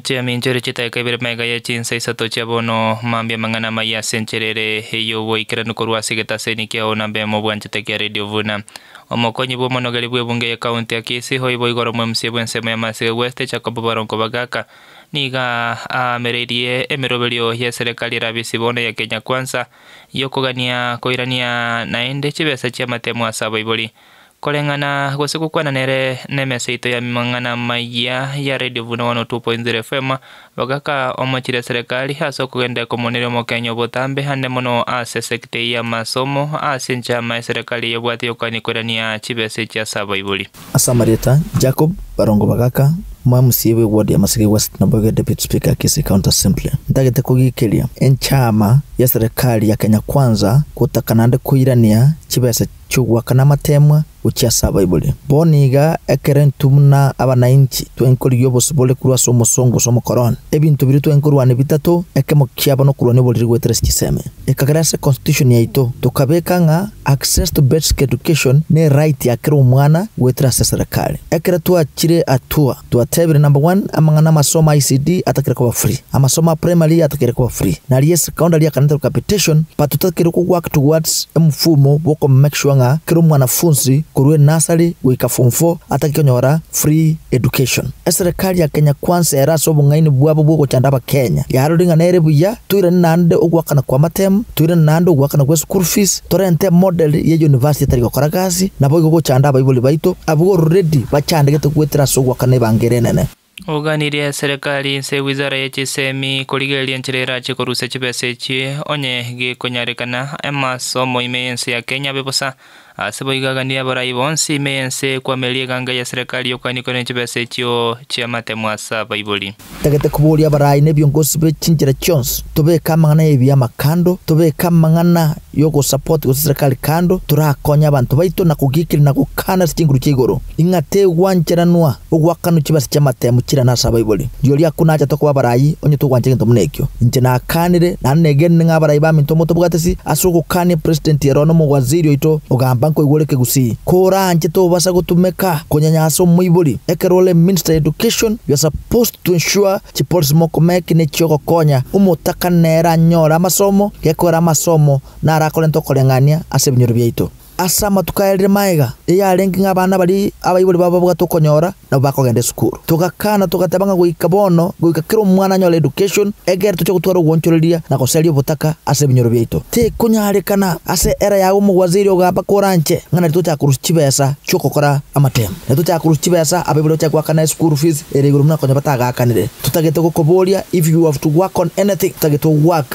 Chiaminchoria chitaika ibere mega ye chinsa isato chia bono, mambia amang'ana amayia ase enchera ere ey'oboikeranu korwa ase egetaseni kiao na mbemo obwanchete kia Radio Vuna. Omokonyi bw'omonogeri bw'ebunge ye county ya Kisii oibo igoro omwemusia bw'ensemo ya Masika West Jacob Barongo Bagaka nigo aamereirie emeroberio ye serikali erabe ase bono ya Kenya Kwanza y'okogania koirania naende chibesa chi'amatemo ase abaibori. Koreng'ana gose gokwana nere na emesa yaito ya mang'ana maya ya Radio Buna 102.0 FM, bagaka omochire serekari ase okogenda ekomoneria omokenya obotambe ande mono ase esegiti eye y'amasomo ase enchama eserekari eyebwate y'okogania koirania chibesa echi ase abaibori. Ase amarieta, Jacob, barongo bagaka, Moyo mosie bwe ward ya Maseke West na boigo ya Deputy Speaker ya Kisii County Assembly, ntagete kogiikeria enchama ya serikali ya Kenya Kwanza gotaka naende koirania chibesa chi'ogoaka namateemwa gochia ase abaibori. Bono iga ekero intwe buna abanainchi twaign korigia obosibore korwa ase omosongo gose omokoroni, ebinto biria twaign korwania bitato, ekemo kiabo nokorwania oboriri goetera chisemi. Ekagera ase Constitution yaito, tokabeka ng'a, Access to basic education ne right ya kera omwana goetera ase eserekari. Ekero twachire atua, twatebire number one amang'ana amasomo a ECD atakeire koba free, amasomo a primary atakeire koba free, na aria esecondary akanetera capitation but totakeire ko work towards emfumo bwoko make sure ng'a kera omwanafunzi korwa enursery goika form four atake konyora free education. Eserekari ya Kenya Kwanza ere ase obong'aini bwabo bwogochanda abakenya, yarorire ng'a nere buya Toirane naende ogoakana kwa materm, toirane naende ogoakana gwe school fees, torente model ye university etari gokora gasi, naboigo gochanda abaibori baito abwo already bachandegete goetera ase ogoakana ebanga ere enene. Oganirie eserekari inse wizara ye chisemi korigereria enchera erache korusia chibesa echio onye gekonyarekana, Emmas omoime y'ense ya Kenya abe bosa. Ase boigo gania abarai bonsi ime y'ense ekwama eria eganga ya Serekari y'okoganikwa ne chibesa echio chi'amatemo ase abaibori. Totagete koboria abarai nebiongozi be chinchera chionsi, tobeke amang'ana y'ebiama kando, tobeke amang'ana y'ogosupport gose Serekari kando, torakonye abanto baito na kogikiria na gokaana ase chinguru chia igoro. Ing'a tegwancheranwa ogwakanwa chibase chi'amatemu chirana ase abaibori. Rirorio akwo nachete koba abarai, onye togwancha egento buna ekio. Inche nakaanire, naende negenire ng'a abarai baminto motobwatisi, ase ogokaania epresidenti ero na omowaziri oito, ogamba nkoigwa ore kegusii, koranche tobasa gotumeka konyanya ase omoibori, ekero ore minister ya education, you are supposed to ensure chipolicy mokomeki nechiogokonya omotakana nere anyore amasomo, gekogera amasomo naro akorente okoreng'ania ase ebinyoro biaito. Ase amatuko aya rire magega, riria yarenge ng'a abana baria abaibori babo babwate okonyora nabo bakogenda esukuru. Togakana, togateba ng'a goika bono, goika kera omwana anyore education, egere toche gotwara ogwonchoreria na gosaria obotaka ase ebinyoro biaito. Tekonyarekana ase era yago omogwaziri ogamba koranche ng'a nari tochaka korusia chibesa chi'ogokora amatemo, nari tochaka korusia chibesa abaibori bachake goakana eschool fees ere igoro buna konya batagakanire. Totagete gokoboria if you have to work on anything, totagete ogoak.